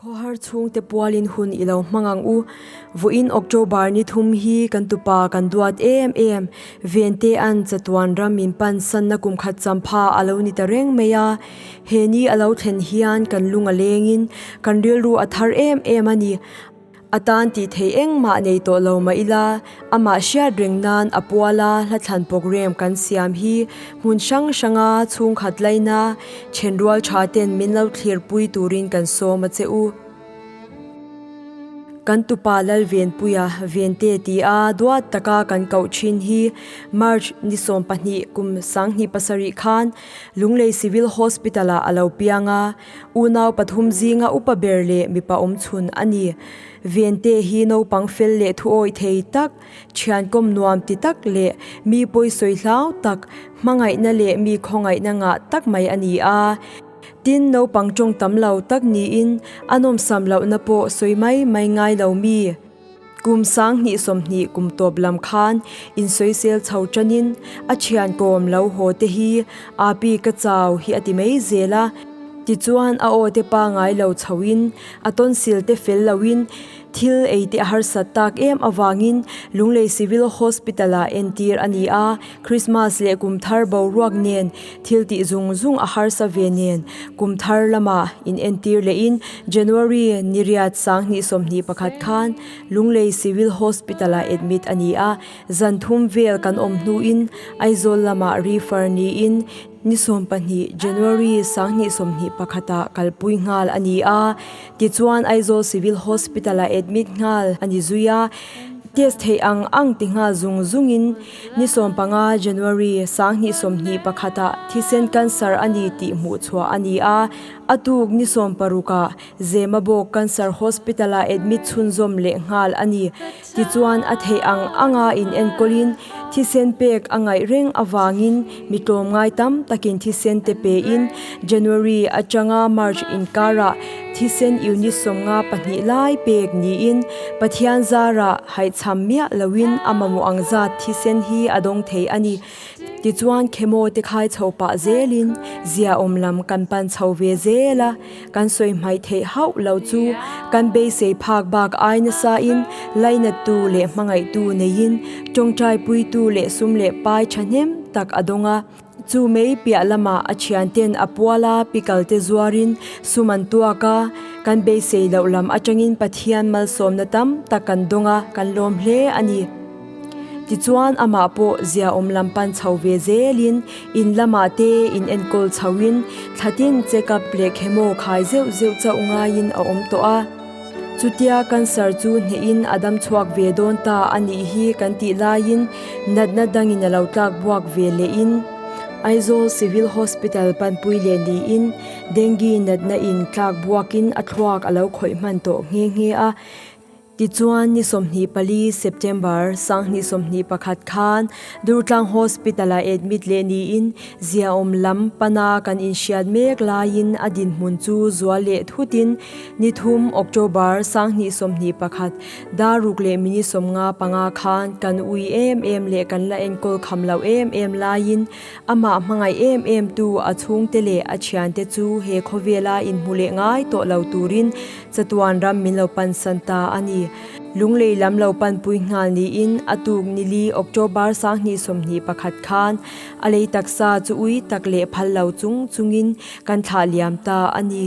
Khawhar chhungte pualin hun i lo hmang ang u. Vawiin October ni thum hi kan tupa kan duat em em. Vente an chatuan ram min pansanna kum khat champha a lo ni ta reng mai a. He ni a lo thlen hian kan lung a lengin kan rilru a thar em em a ni. A tan tih theih engmah nei tawh lo mah ila, amah hriat reng nan a puala hlathlan programme kan siam hi hmun hrang hranga chhungkhat laina then rual tha ten min lo thlir pui turin kan sawm a che u. Kan tupa Lalvenpuia Vente ti a duat taka kan koh thin hi March ni sawmpahnih kum sanghnih pasarih khan Lunglei Civil Hospital ah a lo piang a, Unau pathum zinga upa ber leh mipa awmchhun a ni. Vente hi naupang fel leh thuawi thei tak, thiankawm nuam ti tak leh mi pawisawi hlau tak, hmangaihna leh mi khawngaihna ngah tak mai a ni a. Tin, naupang tawng tam lo tak niin a nawmsam lohna pawh sawi mai mai ngai lo mi, Kum sang hnih sawmhnih kum tawp lam khan insawisel chho tanin a thian kawm lo haw te hi api ka chau hi a ti mai zel a, tichuan a aw te pangai lo chho in a tonsil te fel lo in thil ei te a harsat tak em avangin Lunglei Civil Hospital ah entir a ni a. Krismas leh kum thar boruak nen thil tih zung zung a harsa ve nen kum thar lama inentir leh in January ni riat sang hnih sawmhnih pakhat khan Lunglei Civil Hospital ah admit a ni a, zan thum vel kan awm hnu in Aizawl lama refer ni in ni sawm pahnih January sang hnih sawmhnih pakhat ah kalpui nghal a ni a, tichuan Aizawl Civil Hospital ah admit nghal a ni zui a, test theih ang ang ti nghal zung zung in. Ni sawm panga, January, sang hnih sawmhnih pakhata thisen cancer a ni tih hmuh chhuah a ni a. A tuk ni sawm paruk ah Zema bawk cancer hospital ah admit chhunzawm leh nghal a ni. Tichuan a theih ang anga inenkawl in thisen pek a ngaih reng avangin, Mi tlawm ngai tam takin thisen te pe in January atanga March inkara thisen unit sawmnga pahnih lai pek niin Pathian zara haihcham miah loin a mamawh ang zat thisen hi a dawng thei a ni. Tichuan chemo te khai chho pah zelin ziaawm lam kan pan chho ve zel a. Kan sawi hmai theih hauh lo chu kan beisei phak bak ai nasain lainattu leh hmangaihtu neiin tawngtai puitu leh sum leh pai thahnem tak a dawng a. Chu mai piah lamah a thianten a pual a pikalte zuarin sum an tuak a, kan beisei loh lam atangin Pathian malsawmna tam tak kan dawng a, kan lawm hle a ni. Tichuan amah pawh ziaawm lam pan chho ve zelin in lamah te in enkawl chho in thlatin check up leh chemo khai zeuh zeuh chauh ngaiin a awm tawh a. Chutia cancer chu hnehin a dam chhuak ve dawn ta a nih hi kan tih laiin natna dangin a lo tlak buak ve leh in Aizawl Civil Hospital Panpui leh niin dengue natna in tlak buakin a thluak a lo khawih hman tawh nghe nghe a. Tichuan ni sawmhnih pali September, sanghnih sawmhnih pakhat khan Durtlang Hospital-ah admit leh niin ziaawm lam pana kan inhriat mek laiin a dinhmun chu zual leh thutin ni thum October, sanghnih sawmhnih pakhat, daruk leh minute sawmnga panga khan kan ui em em leh kan la enkawl kham lo em em laiin amah hmangaih em em tu a chhungte leh a thiante chu he khawvela inhmu leh ngai tawh lo turin Chatuan ram min lo pansan ta a ni. Lunglei lam lo panpui nghal niin a tuk nili October sanghnih sawmhnih pakhat khan a lei taksa chu ui tak leh phal lo chung chungin kan thlah liam ta a ni.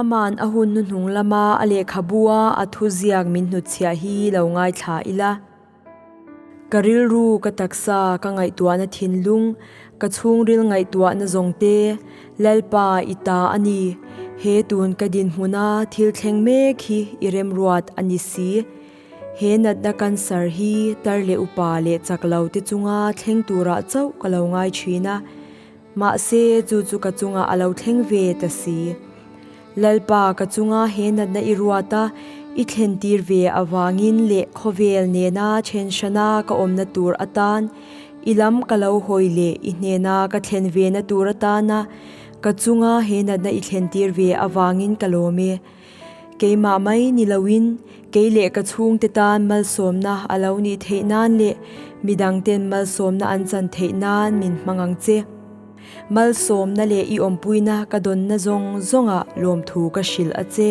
Ama'n a hun hnuhnung lama a lehkhabu a a thu ziak min hnutchhiah hi lo ngaithla ila. Ka rilru, ka taksa, ka ngaihtuahna thinlung, ka chhungril ngaihtuahna zawng te, Lalpa, i ta a ni. He tun ka dinhmun a thil thleng mek hi i remruat a ni si. He natna cancer hi tar leh upa leh chak lo te chunga thleng turah chauh ka lo ngai thin a, Mahse, chu chu ka chungah a lo thleng ve ta si. Lalpa, ka chunga he natna i ruat a, i thlentir ve avangin leh khawvel nena then hrana ka awmna tur atan i lam ka lo hawi leh i hnena ka thlen ve na tur atana ka chunga he natna i thlentir ve avangin ka lawm e. Keimah mai ni loin kei leh ka chhungte tan malsawmna a lo nih theih nan leh midang ten malsawmna an chan theih nan min hmang ang che. Malsawmna leh i awmpuina ka dawnna zawng zawnga lawmthu ka hrilh a che.